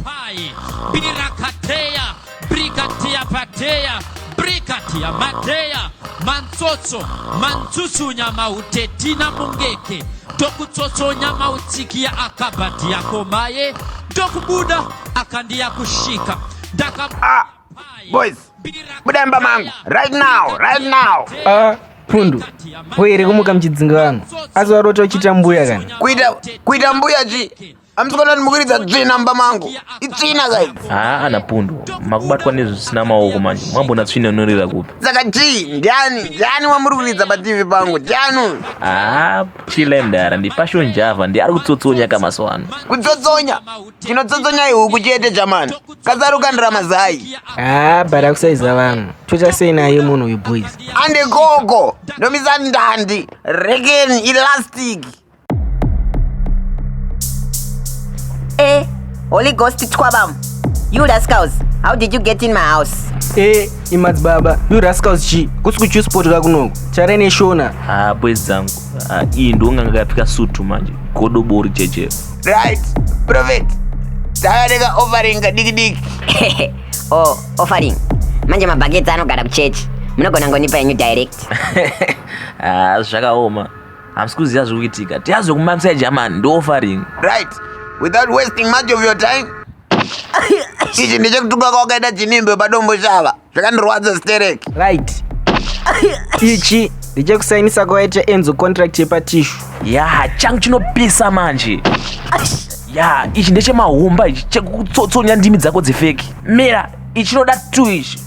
Pai, Birakateya, Brikatia Pateya, Brigadier Madeya Mantsotso Mantsutsunya Mautetina Mungeke ndokutsotsonya mautsiki ya akabhadhi yako maye ndokubuda akandiya kusvika ndaka ah, boys buda imba mangu right now right now ah pundu poyere kumuka muchidzinga vanhu asi warota uchiita mbuya kana kuita kuita mbuya chii Amsikana ndimukiridza tsvina mba mangu. Itsvina guys. Haa ana pundu. Makubatwa nezvisina maoko manje. Mwambona tsvina inorira kupi? Saka chii? Ndiani? Ndiani wamuri kuridza pa TV pangu? Ndiani? Haa chile mdara ndi Passion Java ndi ari kutsotsonya ka maso ano. Kutsotsonya? Chinotsotsonya ihuku chete jamani. Kazaru kandira mazai. Haa bara kusaiza vanhu. Chocha sei naye munhu uyu boys? Ande koko. Ndomisa ndandi. Rekeni elastic. Eh, Holy Ghost Twabam. You rascals, how did you get in my house? Eh, imadzi baba, you rascals chi. Kusi kuchu sport ka kunoku. Chare ne shona. Ah, boys zangu. Ah, iyi ndonga ngakapika sutu manje. Godo bori cheche. Right, prophet. Tavareka offering diki diki. oh, offering. Manje mabhaketi anogara kuchechi. Munogona ngonipa yenyu direct. Ah, zvakaoma. Hamsi kuziva zviri kuitika. Tiyazwe kumamisa eJamani ndoofaring. Right. Without wasting much of your time. Ichi ndichekutuka kwakaita chinimbe padombo shava. Zvakandirwadza sterek. Right. Ichi ndichekusainisa kwakaita Enzo contract yepatishu. Yaha changu chinopisa manje. Ya, ichi ndechemahumba ichi chekutsotsonya ndimi dzako dzefeki. Mira, ichinoda two ichi.